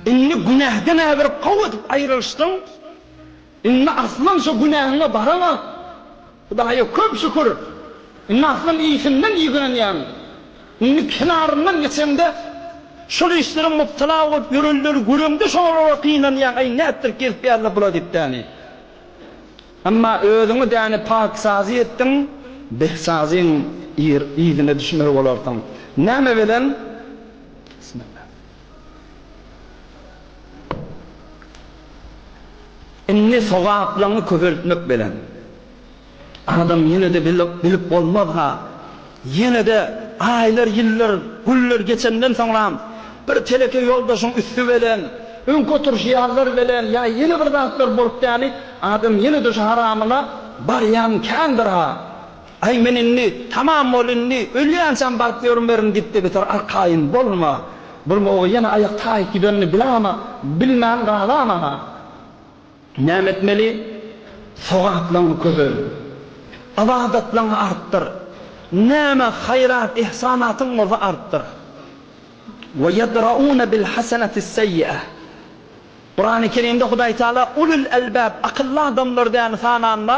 Indi günäden äbir gowy edip aýrylyşdyň. Indi aslam şo günäňe baraňa. Hudaýa köp şükür, indi aslam iýsinden iýgenýäň. Indi kenaryndan geçeňde, şol işlere mubtala bolup ýörenleri göreňde şolara gynanýaň, Äý, nätdir gezip ýaly-la bul-a diýip däni. Emma özüňi däni paksazy etdiň, behsazyň yzyna düşmeli bolarsyň. Näme bilen? Bismillah. Indi sogaplaňy köpeltmek belen adam ýene-de bilip bolmaz-ha. Ýene-de aýlar, ýyllar, günler geçenden soňram bir teleke ýoldaşyň üsti belen, öňki oturyş ýazlar belen ýa ýene bir zatlar bolup däli, adam ýene-de şu haramyna barýan kändir-ha. Aý men indi tamam bol indi ölýänçäm baryp ýörmerin diýipdi bitar arkaýyn bolma bolma oba ýene aýak taýyp gidenini bilamma bilmän galamana näme etmeli sogaplygyňy köpel ybadatlygyňy artdyr näme haýrat ihsanatyň bolsa artdyr we ýedraune bil hasenati seýi'e Kurany kerimde hudaýtagala ulul elbab akylly adamlar däni sananda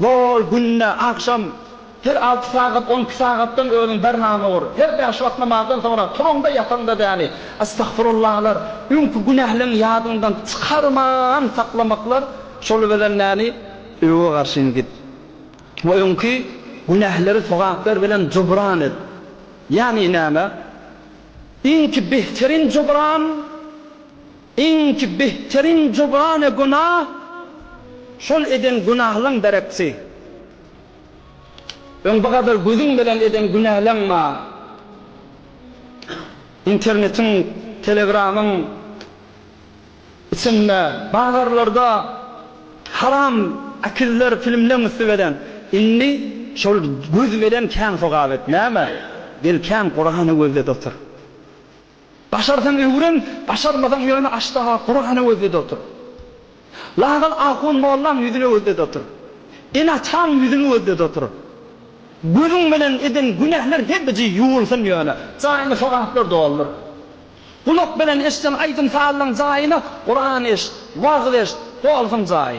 Zol, günde, agşam, her alty sagat, on iki sagatdan özüň bernama ur. Her bäş wagt namazdan soňra, turuňda, ýataňda däni, estagfurullalar, öňki günähleňi ýadyňdan çykarman saklamaklar, şol bilen näni, öe garşyny git we öňki günähleri sogaplar bilen jubran et. Ýagny näme? Iňki behterin jubran. Iňki behteriň jogany günah, şol eden günahlaň dereksi. Öň bu gadar gözüň bilen eden günäleň bar. Internetiň, telegramyň içinde, bazarlarda haram akiller filmleň üsti bilen. Indi şol göz bilen kän sogap et. Näme? Gel kän Kurany gözlet otur. Başarsaň öwren, başarmasaň ýöne aşdaha Kurany gözle-de otur. Lagal ahun mollaň ýüzüne gözle-de otur. Ene-ataň ýüzüni gözle-de otur. Gözüň bilen eden günähler hepiji ýuwulsyn ýöne, jaýyny sogaplar doldur. Gulak bilen eşden aýdym-sazylaň jaýyny Kuran eşit, wagyz eşit, dolsun jaýy.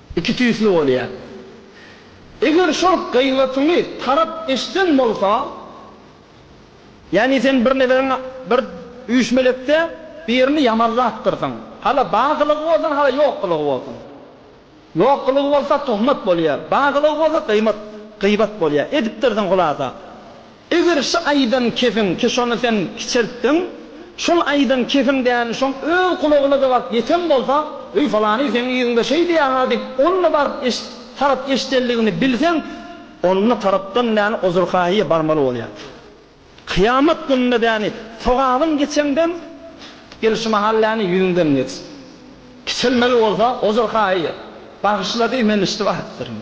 Iki tüýsli bolýar. Eger şol gybatyňy tarap eşden bolsa, ýagny sen bir neberiň bir üýşmelekde birini ýamanlapdyrsyň. Hala bagylygy bolsun, hala ýokgylygy bolsun. Ýokgylygy bolsa, tuhmat bolýar. Bagylygy bolsa, gymat, gybat bolýar. Edipdirsiň, hulasa. Eger şu aýdan kefiň ki şony sen kiçeltdiň, şol aýdan kefiň däni şoň öz gulagyna-da baryp ýeten bolsa, Eý falany seň yzyňda şeý diýýär-ha diýip, onda baryp eş tarap eşdenligini bilseň, onda tarapdan däni ozurkaýyýa barmaly bolýar. Kyýamat gününde däni sogabyň geçeňden, gel şu mahal däni ýüzüňden geç. Kiçelmeli bolsa, ozurkaýyýa, Bagyşla diý, men içdi barypdyryn.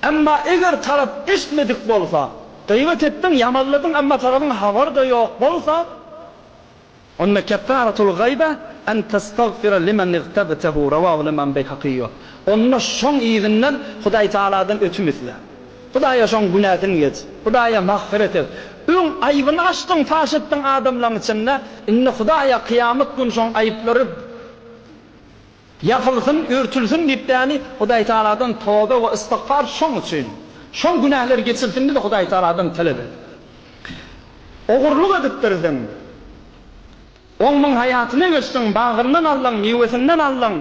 Emma eger tarap eştmedik bolsa, Gybat etdiň, ýamanladyň, emma sagyryň habary-da ýok bolsa, onda keffaratul gyba en testagfira limen igtabtehu, Rawahu Imam Beýhakyý, Onda şoň yzyndan Hudaý Tagaladan ötüm isle. Hudaýa şoň günäsini geç. Hudaýa magfyret et. Öň aýbyny açdyň, paş etdiň adamlaryň içinde, indi Hudaýa kyýamat güni şoň aýyplary, Ýapylsyn, örtülsin diýip däli, Hudaý Tagaladan toba we ystigfar şoň üçin. Şol günäler geçilsin diýip Hudaý Tagaladan talap et. Ogurlyk edipdirdiň. Ogluň haýatyna geçdiň, bagryndan aldyň, miwesinden aldyň.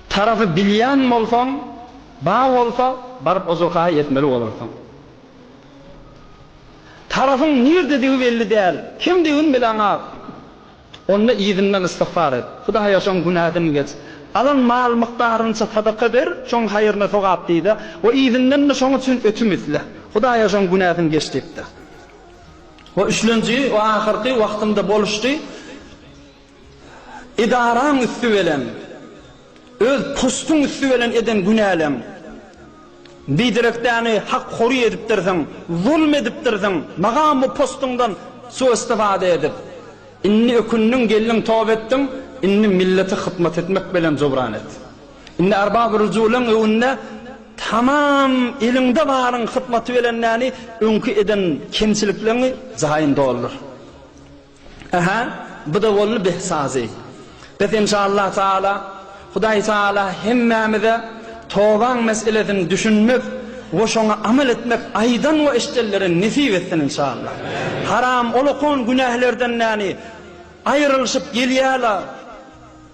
Tarapy bilýän bolsaň, ba bolsa, baryp ozurkaý etmeli bolarsyň. Tarapyň nirdedigi belli däl, kimdi gün bilen ak. Onda yzyndan istigfar et. Hudaýa şoň günäsini geç. Alan mal mukdarynyça sadaka ber, şoň haýryna sogap diýde we yzyndan-da şoň üçin ötüm isle. Hudaýa şoň günäsini geç diýip-de. We üçlenji we ahyrky wagtymda boluşdy. Edaraň üsti bilen, öz postuň üsti bilen eden günäleň, biderekdäni hak hory edipdirsiň, zulm edipdirsiň, magam bu postuňdan suw-istifada edip, indi ökündiň, geldiň toba etdiň, indi millete hyzmat etmek bilen jubran et. Indi Erbab-y Rujulyn öwünde tamam eliňde baryň hyzmaty bilendäni öňki eden kemçilikleňi jaýyny doldur. Aha, bu-da boldy beh sazy. Bes enşalla taala, Hudaý taala hemmämize tobaň meselesini düşünmek we şoňa amal etmek aýdan we eşdenlere nesip etsin enşalla. Haram olakon günählerden näni aýrylyşyp gelýäla.